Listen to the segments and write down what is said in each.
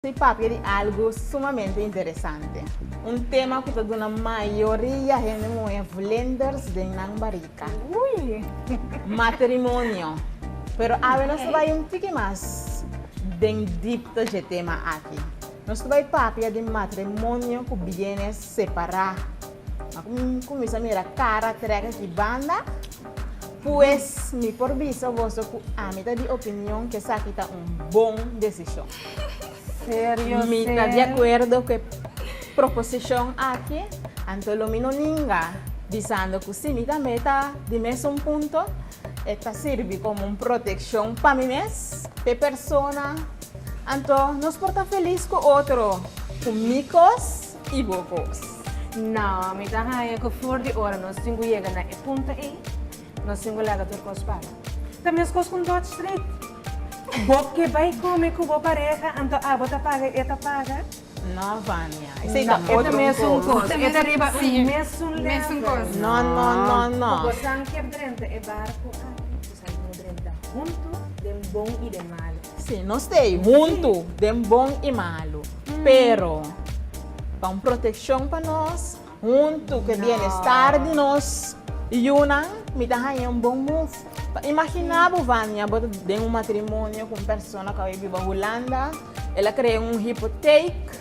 Si papia di algu sumamente interesante, un tema ku ta duna mayoria hende muhé vlinders den nan barika. Matrimonio. Pero awe nos ta bai un tiki mas den dipta dje tema aki. Nos ta bai papia di matrimonio ku biene separá. A kuminsá mira kara trèk aki banda, pues mi por bisa boso ku ami ta di opinion ku esaki ta un bon desishon. Serio sey? Mi ta di akuerdo ku e proposishon aki, anto lo mi no ninga bisando ku si mi tambe ta di mesun punto, e ta sirbi komo un protekshon pa mi mes, pa e persona. Anto nos por ta felis ku otro ku mi kos. i bo bos. No, mi ta haña ku for di ora nos tin ku yega na e punto ei, nos tin ku laga tur kos para. Ta meskos ku Dodge Street. Bo ke bai kome ku bo pareha, anto abo ta paga i e ta paga? No, Vania. Esei ta otro un kos. E ta riba un mesun level. No, no, no, no. Ku bosan keb drenta e barku aki. Nos drenta huntu den bon i den malu. Sí, nos ta ei huntu den bon i malu. Pero ta un protekshon pa nos huntu ku e bienestar di nos yunan. Mi ta haña un bon move. Ta imaginá bo, Vania, bo ta den un matrimonio ku un persona ku a biba Hulanda. El a krea un hypotheek.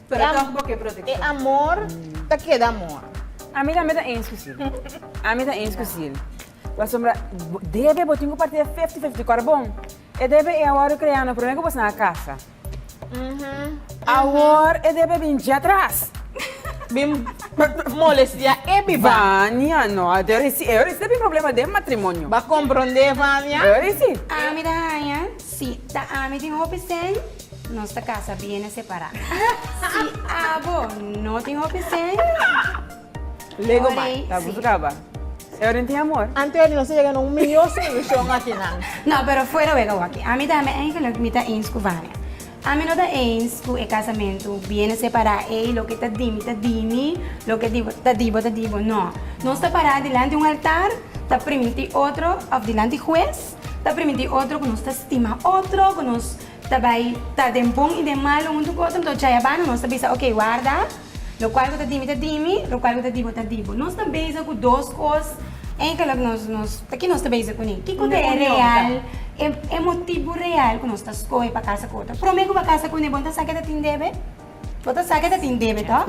Pero tog bo ke protekshon. E amor ta keda amor. Ami tambe ta eens ku sil. Ami ta eens ku sil. Pasobra debe bo tin ku parti e fifti fifti korbon. E debe ei awor bo krea no prome ku bo sa na kasa. Awor e debe bin dje atras. Bin molestia e biba. Vania no a dor isi. E ora isi ta bin problema den matrimonio. Bo a kompronde Vania? E ora isi. Ami ta haña, si, ta ami tin hopi sèn. Nos ta casa biene separá. Si abo no tin hopi seny. Lego mai, ta abuso caba. E oren tin amor. Anthony nos ta yega na un miyo solucion akinan. No, pero fuera wega waki. Ami ta ami eigenlijk mi ta eens cu Vania. Ami no ta eens cu e casamentu biene separá ey loke ta di mi ta di mi, loke di bo ta di bo ta di bo. No. Nos ta pará dilanti un altar ta priminti otro of dilanti hues ta priminti otro cu nos ta stima otro cu nos. Ta bai ta den bon i den malu huntu ku otro, enton Chayabano nos ta bisa oke warda, lokual ku ta di mi ta di mi, lokual ku ta di bo ta di bo. Nos ta beza ku dos kos enkelek nos nos ta ki nos ta beza kuné? Kiko ta e real e motibu real ku nos ta skohe pa kasa ku otro? Promé ku bo a kasa kuné bon ta sa ke ta tin debe? Bo ta sa ke ta tin debe to?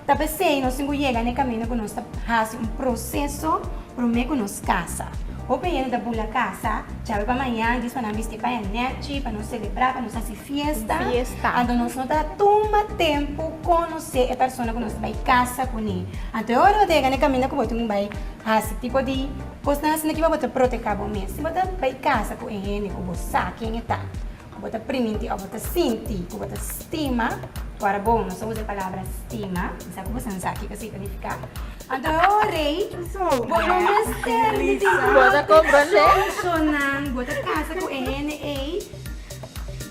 Ta pesey nos tin ku yega na e kaminda ku nos ta hasi un proseso promé ku nos kasa. Hopi hende ta bula kasa djabe pa mañan, dies pa nan bisti paña nèchi, pa nos selebrá, pa nos hasi fiesta. Anto nos no ta tuma tempu konosé e persona ku nos ta bai kasa kuné. Anto e ora bo ta yega na e kaminda ku bo tin ku bai hasi tipo di kosnan asina kiba bo ta protehá bo mes. Si bo ta bai kasa ku e hende ku bo sa ken e ta. Bo ta priminti òf bo ta sinti ku bo ta stima ku Arbon. Nos ta usa e palabra stima. Mi sa ku boso no sa kiko signifiká. Anto, o rei, bo no mester di tinti bo ta komprondé. Personanan bo ta kasa ku e hende ei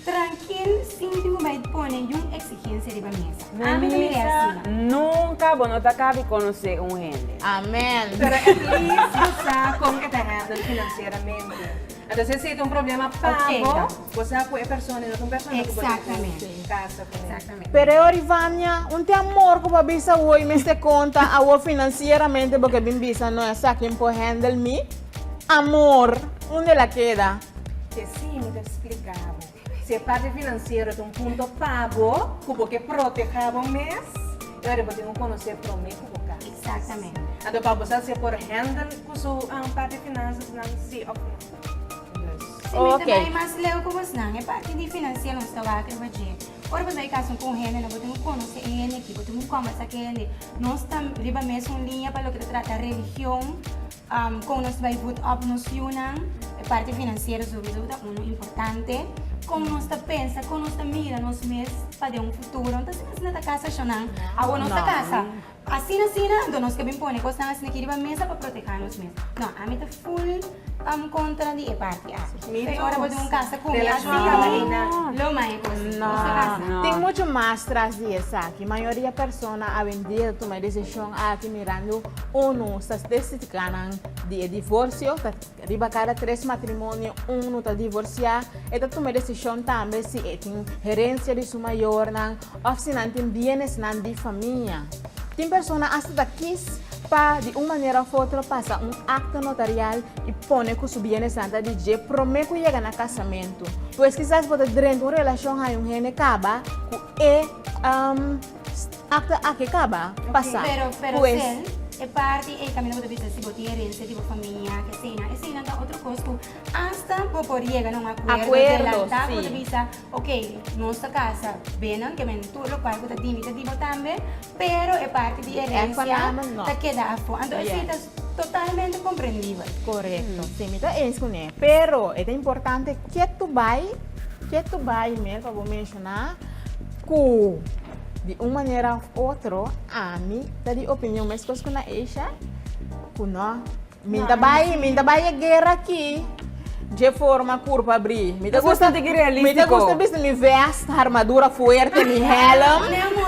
trankil sin di bo bai pone yun eksigensia riba mesa. Ami ta mira e asina. Nunka bo no ta kaba di konosé un hende. Amèn. Pero at least bo sa kon e ta hèndel finansieramente. Anto e seta un problema pa bo bo sa ku e persona no ta un persona ku bo tin ku kasa ku el. Pero e ori Vania, un te amor ku bo a bisa wou i mester konta awor finansieramente bo ke bin bisa no esaki N por handle mi amor. Undel a keda? Te simi ta splika bo. Si e parti finansiero ta un punto pa bo ku bo ke protehá bo mes, i ora bo tin ku konosé promé ku bo kas. Eksaktamente. Anto Pablo sa si e por hèndel ku su parti finansasnan si òf no. Dus. Si mi ta bai mas leu ku bosnan, e parti di finansiero nos ta wak riba dje. Ora bo bai kas un ku un hende no bo tin ku konosé e hende aki, bo tin ku kòmbersá ku e hende. Nos ta riba mesun liña pa loke ta trata religion, Kon nos bai vut òp nos yunan? E parti finansiero surudu ta unu importante. Kon nos ta pensa, kon nos ta mira nos mes pa den un futuro? No ta asina asina ta kasa Shannan. Awor nos ta kasa. Asina asina anto nos ke bin pone kosnan asina aki riba mesa pa proteha nos mes. No, ami ta full kontra di e parti aki. P'e ora bo dun un kasa ku mi asina lo mai e kos. Nos ta kasa. Tin muchu mas tras di esaki. Mayoria persona a bin dil tuma e desishon aki mirando Unu statistica nan di e divorcio ta riba cada tres matrimonio un no ta divorcia. E ta tuma decision tambe si e tin herencia di su mayornan of si nan tin bienesnan di famia. Tin persona hasta ta kies pa di un manera of otro pasa un acta notarial y pone cu su bienesnan ta di dje prome cu yega na casamento. Pues kisas bo ta drenta un relacion haña un hende caba cu e. Acto aki caba pasa pues. E parti ey también lo bo ta bisa si bo tin herencia di bo familia eseynan eseynan ta otro cos cu hasta bo por yega na un acuerdo delanta cu bo ta bisa ok nos ta casa binan ke men tur locual cu ta di mi ta di bo tambe pero e parti di herencia ta keda afo anto esey ta totalmente comprendible. Correcto si mi ta enskuné pero e ta importante ke tu bay ke tu bay mer pa bo. Na ku di un manera of otro ami ta di opinion meskos ku na Asia ku no. Mi no ta bai, mi no ta bai e guera aki dje forma kurpa bri. Mi ta gusta, mi ta gusta bisti mi vèst, armadura fuerte, mi hèlm.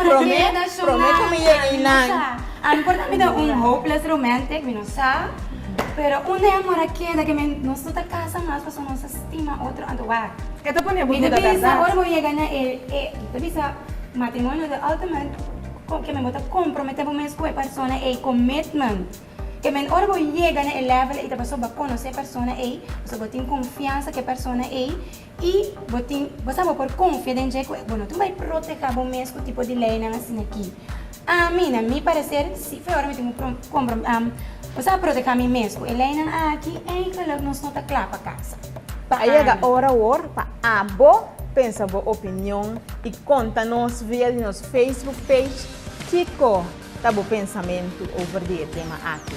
Promé, promé ku mi yega einan. Ami por ta bira un hopeless romantic, mi no sa. Pero un día mi por a keda ke mi no su ta kasa mas pasobra mi no sa. Stima otro anto wak. E ta pone bo duda berdad. Ora bo yega na el e ta bisa matrimonio de Altman ke men bo ta compromete bo mes ku e persona ei commitment. E men ora bo yega na e level ei ta pasobra bo a conoce e persona ei, pasobra bo tin confiansa cu e persona ei y bo tin bo sa bo por confia den dje cu bo no tin bay proteha bo mes cu tipo di leynan asina aki. Ami, na mi parecer, si fue ora mi tin cu comenzá a proteha mi mes cu e leynan aki, eigenlijk nos no ta cla pa casa. Ta a yega ora awor pa abo pensa bo opinion y conta nos via di nos Facebook page kico ta bo pensamentu over di e tema aki.